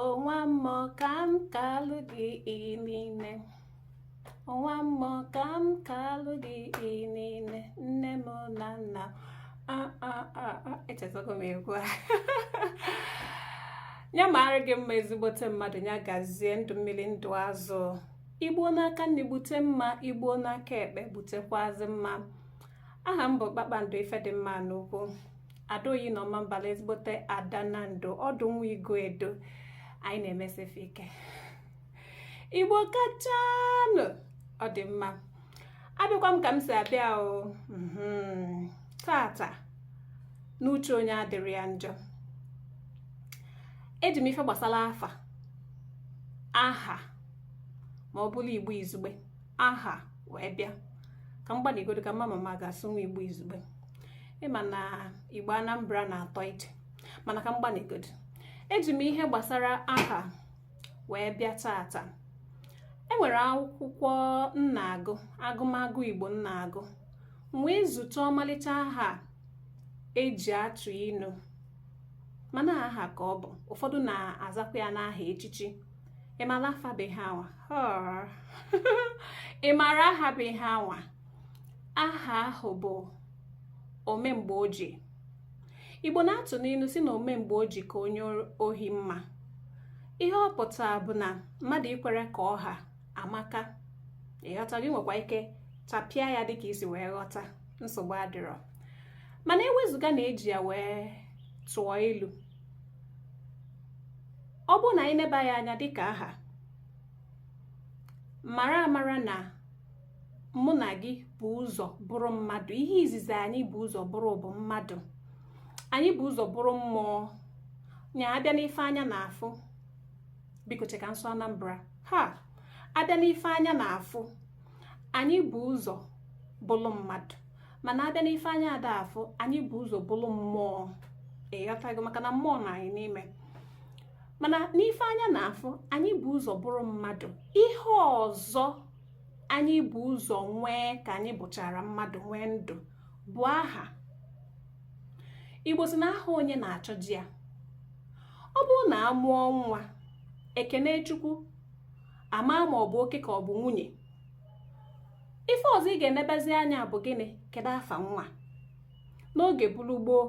onwa mmụọ ka m kalụ gị niile onwa mmụọ ka m kalụ gị niile nne m na nna echetago m egwu a ya mara gị mma ezigbote mmadụ ya gazie ndụ mmiri ndụ azụ i gbuo n'aka nni gbute mma i gbuo n'aka ekpe gbutekwazi mma aha m bụ kpakpando ifedịmma n'ugwu ada oyi na ọmambala ezigbote ada nando ọdụ nwa iguedo anyị na-emesi ife ike igbo kachanụ ọ dị mma abịakwa m ka m si abịa o mhm. taata n'uche onye adịrọ ya njọ eji m ife gbasara afa aha ma ọ bụrụ igbo izugbe aha wee bịa ka m gbanịgodu ka m ma ma m ga-asụnwu igbo izugbe ị ma na igbo anambra na-atọ ije mana ka m gbanịgodu eji m ihe gbasara aha wee bịa taata enwere akwụkwọ m na-agụ agụmagụ igbo m na-agụ wee zute ọmalịcha aha eji atụ inu mana aha ka ọ bụ ụfọdụ na-azakwa ya n'aha echichi ị mara afa bụ ihe anwa ị mara aha bụ ihe anwa aha ahụ bụ omemgbeoji igbo na-atụ n'ilu sị na ome mgbe o ji ka onye ohi mma ihe ọ pụtara bụ na mmadụ ikwere ka ọ ha amaka ị ghọtago i nwekwa ike tapịa ya dịka i si wee ghọta nsogbu adịrọ mana ewezụga na eji ya wee tụọ ilu ọ bụrụ na anyị neba ya anya dịka aha mara amara na mụ na gị bu ụzọ bụrụ mmadụ ihe izizi anyị bu ụzọ bụrụ bụ mmadụ anyị bu ụzọ bụrụ mmụọ nya abịa n'ife anya na-afụ biko chee ka m sụọ Anambra ha abịa n'ife anya na-afụ anyị bu ụzọ bụrụ mmadụ mana abịa n'ife anya ada afụ anyị bu ụzọ bụrụ mmụọ ị ghọtago maka na mmụọ nọ anyị n'ime mana n'ife anya na-afụ anyị bu ụzọ bụrụ mmadụ ihe ọzọ anyị bu ụzọ nwee ka anyị bụchara mmadụ nwee ndụ bụ aha igbo sị na aha onye na-achọje ya ọ bụrụ na a mụọ nwa e kenee chukwu ama ma ọ bụ oke ka ọ bụ nwunye ife ọzọ ị ga-enebezi anya bụ gịnị kedu afa nwa n'oge bụrụ gboo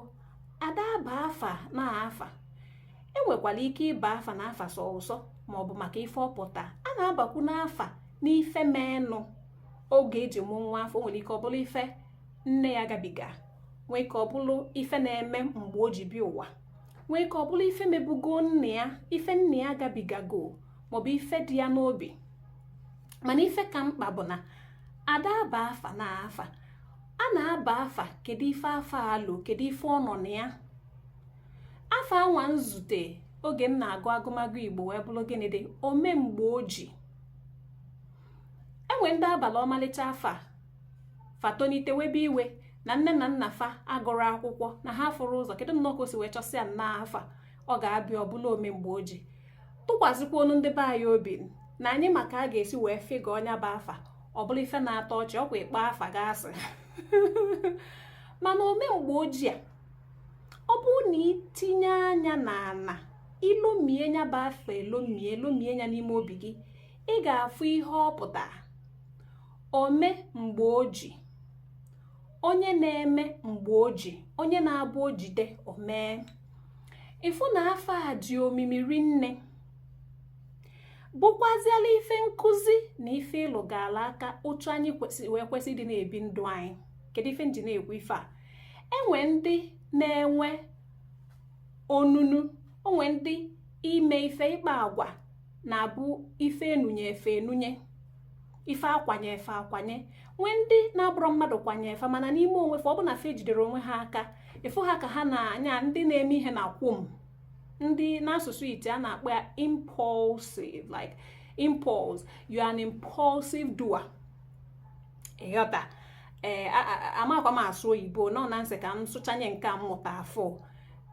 ada aba afa na afa enwekwara ike ịba afa na afa sọ ụsọ maọbụ maka ife ọ pụta a na-abakwu n'afa n'ife menụ oge eji mụ nwa afụ o nwere ike ọ bụrụ ife nne ya gabiga nwee ike ọ bụrụ ife na-eme mgbe o ji bịa ụwa nwee ike ọ bụrụ ife mebugo nne ya ife nne ya gabigago maọbụ ife dị ya n'obi mana ife ka mkpa bụ na ada aba afa na afa a na-aba afa kedu ife afa alụ kedu ife ọ nọ na ya afa anwa m zute oge m na-agụ agụmagụ igbo wee bụrụ gịnị dị omemgbe oji e nwe ndị a balụ ọmalịcha afa fa tonite webe iwe na nne na nna fa agụrọ akwụkwọ na ha afụrọ ụzọ kedu nnọọ ka o si wee chọsịa nnọọ afa ọ ga-aba ya ọ bụrụ ome mgbe o ji tụkwasịkwanụ ndị be anyị obi na anyị ma ka a ga-esi wee fịgọ nya bụ afa ọ bụrụ ife na-atọ ọchị ọkwa ịkpọ afa gasị mana ome mgbe oji a ọ bụrụ na i tinye anya na ana i lomie nya bụ afa elomie lomie nya n'ime obi gị ị ga-afụ ihe ọ pụtara ome mgbe o ji onye na-eme mgbe o ji onye na-abụ o jide o mee ị fụ na afa a dị omimi rinne bụkwaziela ife nkụzi na ife ịlụgala aka otu anyị kwesịrị wee kwesị ịdị na-ebi ndụ anyị kedu ife m ji na-ekwu ife a e nwe ndị na-enwe onunu o nwe ndị ime ife ịkpa agwa na-abụ ife e nunye fa enunye ife a kwanye fa akwanye nwee ndị na-abụrọ mmadụ kwanye fa mana n'ime onwe fa ọ bụ na fa ejidero onwe ha aka ife ha ka ha na-anya ndị na-eme ihe na kwụm ndị n'asụsụ ite a na-akpọ ya impulsive like impulse you are an impulsive doer ị ghọta ee eh, amakwa m asụ oyibo nọ na m sị ka m sụchanye nke m mụta afụ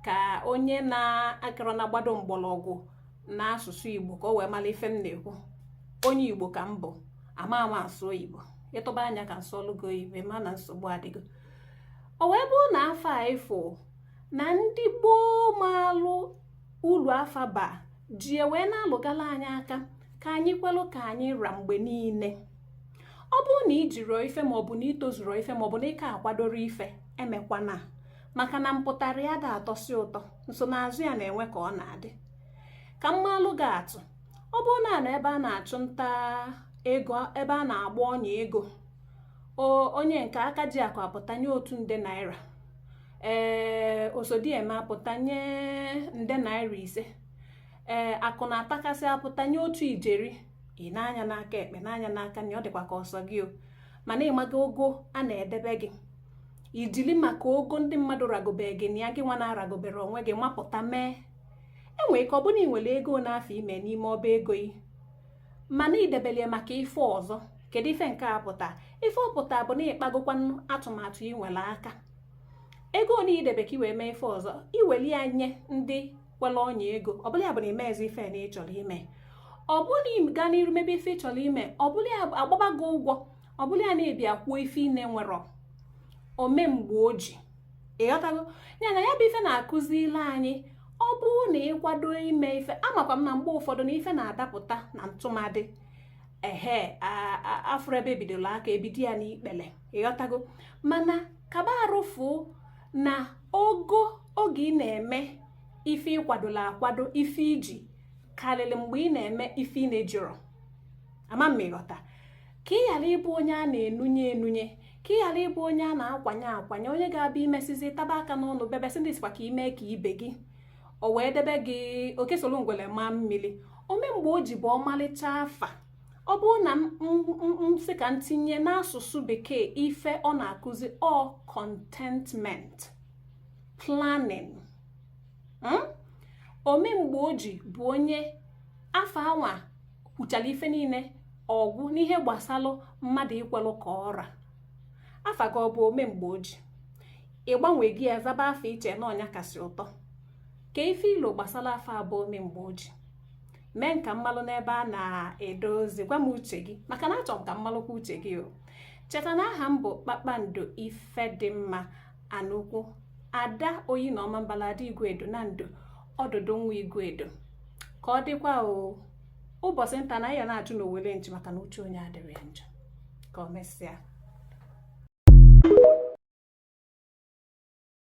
ka onye na-akarọ na gbado mgbọrọgwụ n'asụsụ igbo ka o wee mara ife m na-ekwu onye igbo ka m bụ ama m asụ oyibo ị tụba anya ka m sụọlụ gị oyibo ma na nsogbu adịgo o wee bụrụ na afa a ị fụ na ndị gboo maalụ uru afa ba ji wee na-alụgala anyị aka ka anyị kwelụ ka anyị ra mgbe niile ọ bụrụ na i jiro ife maọbụ na i tozuro ife maọbụ na ị ka akwadoro ife emekwana maka na mpụtara ya ada atọsi ụtọ nsonaazụ ya na-enwe ka ọ na-adị ka m malụ gị atụ ọ bụrụ na a nọ ebe a na-achụ nta ego ebe a na-agba ọnya ego onye nke aka ji akụ apụta nye otu nde naira ee osodieme apụta nye nde naira ise ee akụ na-atakasị apụta nye otu ijeri i nee anya n'aka ekpe nee anya n'aka nri ọ dịkwa ka ọ sọ gị o mana ị maga ogo a na-edebe gị i jili maka ogo ndị mmadụ ragobe gị na ya gị nwa na-aragobere onwe gị mapụta mee e nwee ike ọ bụrụ ị nwere ego n'afọ ime n'ime ọba ego yi mana i debelu ya maka ife ọzọ kedu ife nke a pụta ife ọ pụta bụ na ị kpagokwanụ atụmatụ ị nwere aka ego ole i debe ka i wee mee ife ọzọ i weli ya nye ndị kwere ọnya ego ọ bụla ya bụ na i mezi ife na ị chọrọ ime ọ bụrụ na ị gaa n'iru mebe ife ị chọrọ ime ọ bụrụ ya agbaba gị ụgwọ ọ bụla ya na-ebi akwụọ ife ị na-enwerọ ome mgbe o ji ị ghọtago ya na ya bụ ife na-akụzili anyị ọ bụrụ na ị kwado ime ife amakwa m na mgbe ụfọdụ na ife na-adapụta na ntụmadị ehe a fụrọ ebe e bidolu aka e bido ya n'ikpele ị ghọtago mana kaba arụfụ na ogo oge ị na-eme ife ị kwadolu akwado ife i ji karịrị mgbe ị na-eme ife ị na-ejirọ ama m ị ghọta ka ị ghara ịbụ onye a na-enunye enunye ka ị ghara ịbụ onye a na-akwanye akwanye onye ga-abịa imesizi taba aka n'ọnụ bebe sị ndị sịkwa ka i mee ka ibe gị o wee debe gị oke soro ngwere maa mmiri ome mgbe o ji bụ ọmalịcha afa ọ bụrụ na m sị ka m tinye n'asụsụ bekee ife ọ na-akụzi ọ contentment planning hmm? ome mgbe o ji bụ onye afa anwa kwuchara ife niile ọ gwụ n'ihe gbasalụ mmadụ ikwelụ ka ọ ra afa gị ọ bụ ome mgbe o ji ị gbanwego ya zaba afa i che na ọ nya kasị ụtọ kaa ife i lo gbasara afa a bụ ome mgbe o ji mee ka m malụ n'ebe a na-ede ozi gwa m uche gị maka na achọ m ka m malụkwa uche gị o cheta na aha m bụ kpakpando ifedịmma anụkwu ada oyi na ọmambala ada iguedo nando ọdụdụ nwa iguedo ka ọ dịkwa o ụbọsị nta anyị ya na-achụ n'owele nchi maka na uche onye adịrọ ya njọ ka ọ mesịa